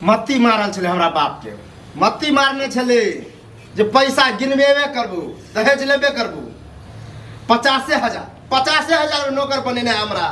मत्ती मारल छलै हमरा बापके मत्ती मारने छलै जे पैसा गिनबेबे करबू दहेज लेबे करबू पचासे हजार पचासे हजार नौकर बनेने हमरा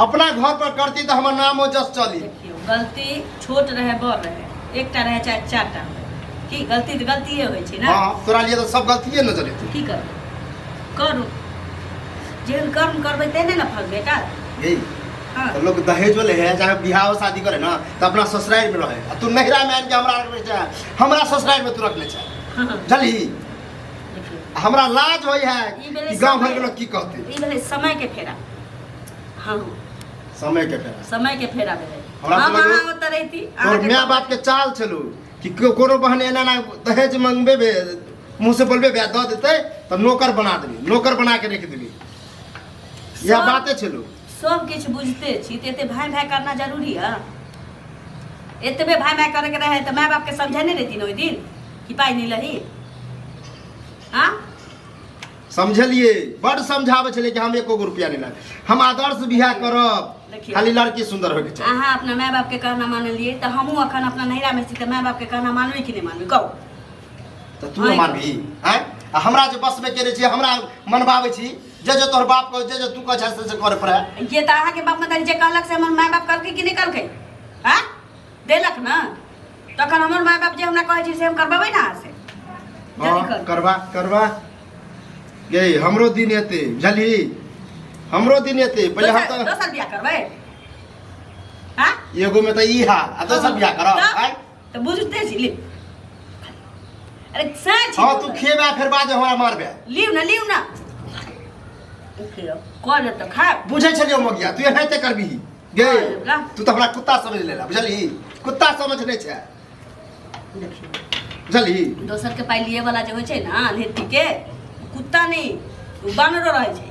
अपना घर पर करती तो हमर नामो जस चली देखियौ गलती छोट रहै बड़ रहै एकटा रहै चाहे चारि टा रहै। की गलती तऽ गलतिए होइ छै ने हाँ तोरा लिए तो सब गलतिए नजर एतौ की करबै करू जेहन कर्म करबै तेहने ने फल भेटत यही हाँ। तो लोग दहेजो ले है चाहे बिहाव शादी करे ना तो अपना ससुराल में रहे आ तू नहिरा में आन के हमरा रख ले चाहे हमरा ससुराल में तू रख ले चाहे जली देखिए, हमरा लाज होई है ई भेलै कि गांव भर के समय। लोग की कहते ई भेलै समय के फेरा हाँ समय के फेरा समय के फेरा भेलै हमरा हम समझ में- अहाँ ओतऽ रहिती तोर अहाँके माय बाप के चाल छलू कि को- कोनो बहन एना ना दहेज मंगबे बे मुंह से बोलबे बे दऽ देते तऽ नौकर बना देबी नौकर बना के रख देबी यह सब- बाते छलू सब किछु बुझते छी तऽ एते भाय भाय करना जरूरी है एतबे भाय भाय करके रहे तऽ माय बाप के समझे नहीं रहती ओहि दिन कि पाई नहीं लही हाँ समझलिए बड़ समझावे छले कि हम एको गो रुपया नहीं लाए हम आदर्श बियाह करब देखिए। खाली लड़की सुंदर होके चाहिए अहाँ अपना माय बाप के कहना मानलिए तऽ हमहूँ अखन अपना नैहरा में छी तऽ माय बाप के कहना मानबे कि नहीं मानबे कहू तऽ तू ने मानबी आँय आ हमरा जे बसमे केने छी हमरा मनबाबै छी जे जे तोहर बाप कह जे जे तू कह छै से से करे पड़े ये तो अहाँ के बाप मतारी जे कहलक से हमर माय बाप कहलकै कि नहीं कहलकै हाँ देलक ना तखन हमर माय बाप जे हमरा कहै छै से हम करबेबै ना अहाँ से जल्दी हाँ, कर करवा करवा यही हमरो दिन एते बुझली हमरो दिन एते पहले हम दोसर तो दोसर बियाह करबै हाँ एगो में तो ई हा आ दोसर बियाह करब तो? आय तो बुझते छी ले अरे सच हां तू खेबा फिर बाद हमरा मारबे लियो ना लियो ना खियो कौन तो खा बुझे छलियो मगिया तू एनाते करबी गे तू तो हमरा कुत्ता समझ लेला बुझली कुत्ता समझ नै छै देखियो बुझली दोसर के पाई लिए वाला जे होय छै ना लेती के कुत्ता नहीं बानरो रहे छै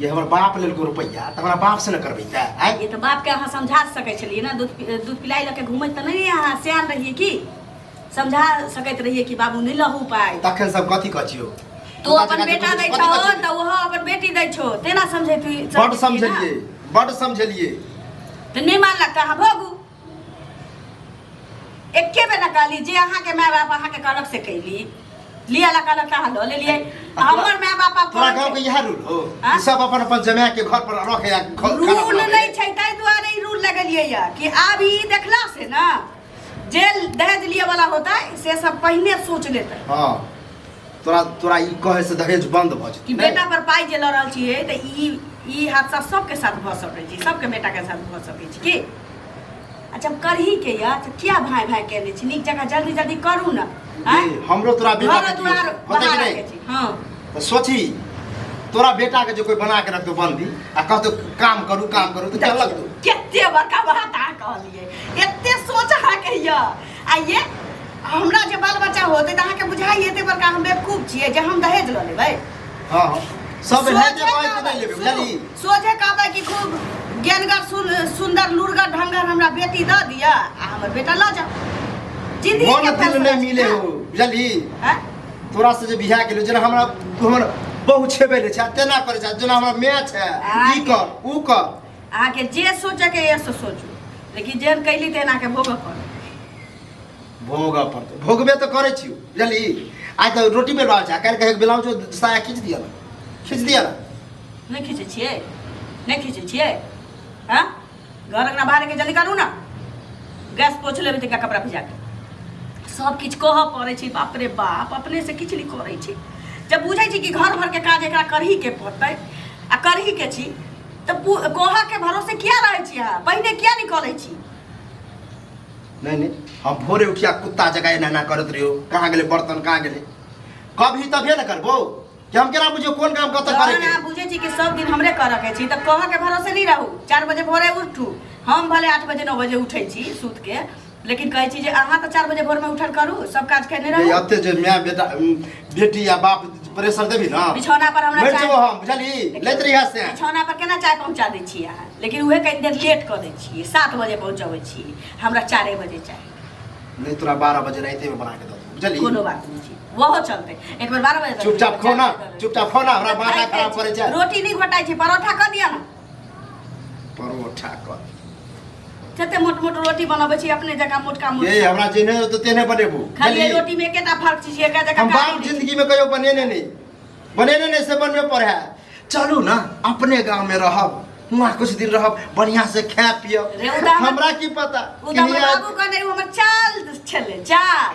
जे हमर बाप लेलको रुपैआ तऽ हमरा बाप से ने करबै तऽ आइ ये तो बाप के अहाँ समझा सकै छलियै ना दूध पि- दूध पिलाई लऽ के घूमैत तऽ नहि अहाँ सियान रहियै की समझा सकैत रहियै कि बाबू नहि लहू पाइ तखन सब कथी कचियो तू अपन बेटा दै छहो तऽ ओहो अपन बेटी दै छहो तेना समझे बड समझलियै बड समझलियै तऽ नहि मानलक तऽ अहाँ भोगू एके बेर ना कहली जे अहाँ के माय बाप अहाँ के कहलक से कैली लिया ला कहलक ता लो ले लिए हमर माय बाप आप तोरा गाँव के इएह रूल हो हाँ? ई सब अपन अपन जमाए के घर पर रखे आ ख- खाना रूल बनावे। नहीं छै ताहि दुआरे ई रूल लगलिए या कि आब ई देखला से ना जे दहेज लिए वाला होता है से सब पहिने सोच लेते हाँ तोरा तोरा ई कहे से दहेज बंद भ कि जेतै बेटा पर पाई जे लऽ रहल छी है तऽ ई ई हादसा सबके साथ भऽ सकै छै सबके बेटा के साथ भऽ सकै छै की अच्छा करही के या तऽ क्या भाई भाई कहने छी नीक जगह जल्दी जल्दी करू ना हैं? जी, हमरो तोरा बेटा घर के द्वार कियो- होतै कि बहार नहीं? के छी हाँ तऽ सोची तोरा बेटा के जे कोई बना के रखतो बंदी आ कहतो काम करू काम करू तऽ चलक तू केते बड़का बात अहाँ कहलियै एते सोच अहाँ के यऽ आइए हमरा जे बाल बच्चा होते त अहाँ के बुझाई एते बड़का हम बेवकूफ छिए जे हम दहेज ल लेबै हां हां सब है जे भाई को नहीं लेबे बुझली सोझे कहबै कि खूब ज्ञानगर सुन सुंदर लुरगर ढंगर हमरा बेटी द दिया आ हमर बेटा ल जा जिंदगी मन दिल नहीं मिले हो बुझली हां तोरा से जे बिहा गेलो जेना हमरा हमर बहु छेबे ले छै तेना करे छै जेना हमरा मैच है ई कर ऊ कर अहाँके जे सोचैके यऽ से सोचू लेकिन जेहन कैली तेहन अहाँके भोगऽ पड़त भोगऽ पड़तै भोगबे तऽ करै छी बुझली आइ तऽ रोटी बेर बाहर छै काल्हि कहे ब्लाउज साया खींच दिया ना खींच दिया ना नहि खींचै छियै नहि खींचै छियै हँ घर अङ्गना बाहरके जल्दी करू ने गैस पोछ लेबै तनिका कपड़ा भिजा कऽ सब किछु कहऽ पड़ै छै बाप रे बाप अपने से किछु नहि करै छै जब बुझै छी कि घर भरके काज एकरा करही के पड़तै आ करही के छी तऽ पु- कोहा के भरोसे किया रहै छी अहाँ पहिने किया निकलै छी नहीं नहीं हम भोरे उठिया कुत्ता जगह एना एना करत रहियो कहाँ गेले बर्तन कहाँ गेले कब ही तभिए न करबो कि हम केना बुझियो कोन काम कतऽ करे तहन के अहाँ बुझै छी कि सब दिन हमरे करऽ के छी तऽ कोहा के भरोसे नहीं रहू चार बजे भोरे उठू हम भले आठ बजे नौ बजे उठै छी सुत के लेकिन कहै छी जे अहाँ तऽ चारि बजे भोरमे उठल करू सब काज केने रहू अते जे माय बेटा बेटी या बाप प्रेशर देबी ना बिछौना पर हमरा बैठ जाओ हम बुझली लैत रही हाथ से बिछौना पर केना चाय पहुंचा दै छी अहाँ लेकिन उहे कहीं देर लेट कर दै छी 7 बजे पहुंचाबै छी हमरा 4 बजे चाय नहीं तोरा 12 बजे रात में बना के दो बुझली कोनो बात नहीं छी वहो चलते एक बार 12 बजे चुपचाप खो ना चुपचाप खो ना हमरा माथा खराब करे छै रोटी नहीं घटाई छै परोठा कर दिया ना परोठा कर कते मोट मोट रोटी बनबै छी अपने जकाँ मोटका मोट ए हमरा जे नहि होतो तेने बनेबू खाली खाली रोटी में एकेटा फर्क छी एका जकाँ हम बाप काटि दै छी। जिंदगी में कहियो बनेने नहीं बनेने नहीं से बनबे पर है चलू ना अपने गांव में रहब वहाँ कुछ दिन रहब बढ़िया से खाए पियब रे, उदाहरण- हमरा की पता ओ कि तऽ हमर हियाँ- बाबू कहने रहै, ओ हमर चाल छलै चाल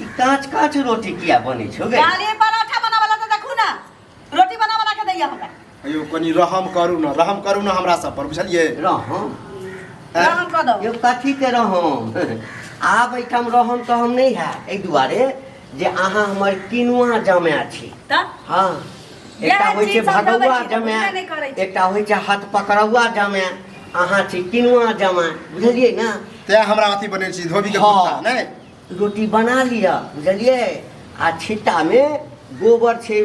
ई कांच कांच रोटी किया बने छो गे काली पराठा बनावला त देखू ना रोटी बना बना के दैया हमरा अयो कनी रहम करू ना रहम करू ना हमरा सब पर बुझलिए रहम हैं? रहम कऽ दो यो कथी के रहम आब एहिठाम रहम तऽ हम नहि है एहि दुआरे जे अहाँ हमर किनुआ जमाय छी त हाँ एकटा होइ छै भगौआ जमाए एकटा होइ छै हाथ पकड़ौआ जमाए अहाँ छी किनुआ जमाए बुझलियै ने तैं हमरा अथी बने छी धोबी के कुत्ता हँ। नै रोटी बना लिअ बुझलियै आ छिट्टामे गोबर छै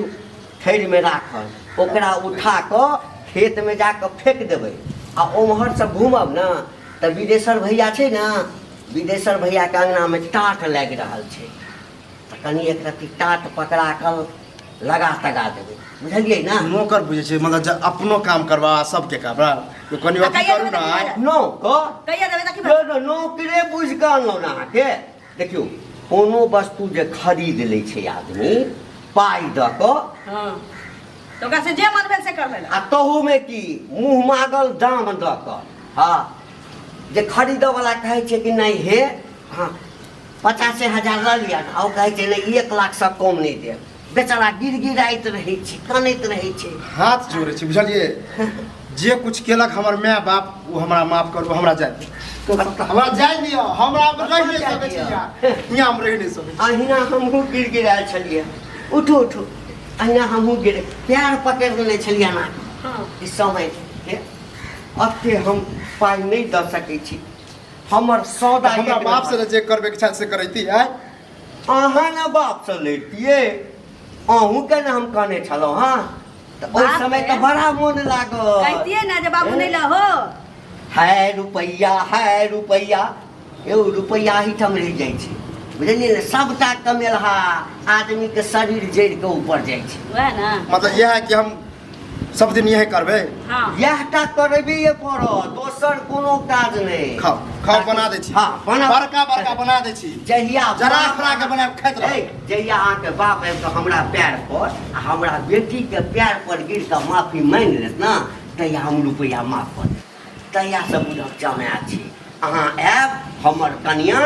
थैरमे राखल ओकरा उठा कऽ खेतमे जा कऽ फेंक देबै आ ओम्हरसँ घूमब ने तऽ बिदेश्वर भैया छै ने बिदेश्वर भैयाके अङ्गनामे टाट लागि रहल छै तऽ कनि एक रत्ती टाट पकड़ा कऽ लगा तगा देबै बुझलियै ने नौकर बुझै छै मतलब जे अपनो काम करबा आ सबके काम बा। तो कनि आ अथी कहिया करू देबै ने तऽ आइ। की नौकर कहिया देबै देखी यौ तऽ नौकरे बुझि कऽ अनलहुँ ने अहाँके देखियौ कोनो वस्तु जे खरीद लै छै आदमी पाइ दऽ कऽ हँ तऽ ओकरा से जे मन भेल से कर लेला आ तहूमे की मुँह मागल दाम दऽ कऽ हँ जे खरीदऽवला कहै छै कि नहि हे हँ पचासे हजार लऽ लिअ ने ओ कहै छै नहि एक लाखसँ कम नहि देब बेचारा गिर गिराइत रहै छै कानैत रहै छै हाथ जोड़ै छै बुझलियै जे कुछ केलक हमर माय बाप ओ हमरा माफ करू हमरा जाय दिअ। हमरा जाय दिअ हमरा हम रहि नहि सकै छी यहाँ यहाँ हम रहि नहि सकै छी। अहिना हमहूँ गिर गिरायल छलियै उठू उठू अहिना हमहूँ गिर पैर पकड़ि लेने छलियै ना ई समय के अते हम पाइ नहि दऽ सकै छी हमर सौदा हमरा एक बाप से नंबर। ने जे करबे के इच्छा से करैती है अहाँ ने बाप से लैतियै अहूँ के ने हम कहने छलहुँ हँ तऽ ओहि बाप समय रे। तऽ बड़ा मोन लागल कहतिए ना जे बाबू नहीं लहो है रुपैया है रुपैया यौ रुपैया एहिठाम रहि जाइ छै बुझलियै ने सभटा कमेलहा आदमीके शरीर जरि कऽ ऊपर जाइ छै वह ना मतलब यह है कि हम सब दिन यह करबे हाँ। यह टा करबे ये पड़ो दोसर कोनो काज नहीं खाओ खाओ बना दे छी हां बना बड़का बड़का बना दे छी जहिया जरा खरा के बना खाइत रहे जहिया आ के बाप आबि के हमरा पैर पर आ हमरा बेटी के पैर पर गिर के माफी मांग लेत ना तहिया हम रुपया माफ कर तहियासँ बुझक जमाय छी अहाँ आयब हमर कनिया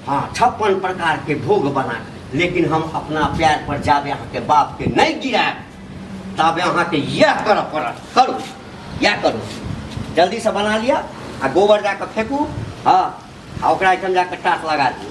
हाँ छप्पन प्रकार के भोग बना लेकिन हम अपना पैर पर जाबे अहाँके बाप के नहीं गिरायब ताबे अहाँके यह कर पड़त करू यह करू जल्दी से बना लिया आ गोबर जाकर फेंकू हाँ आ ओकरा एहिठाम जाकर टाट लगा दियौ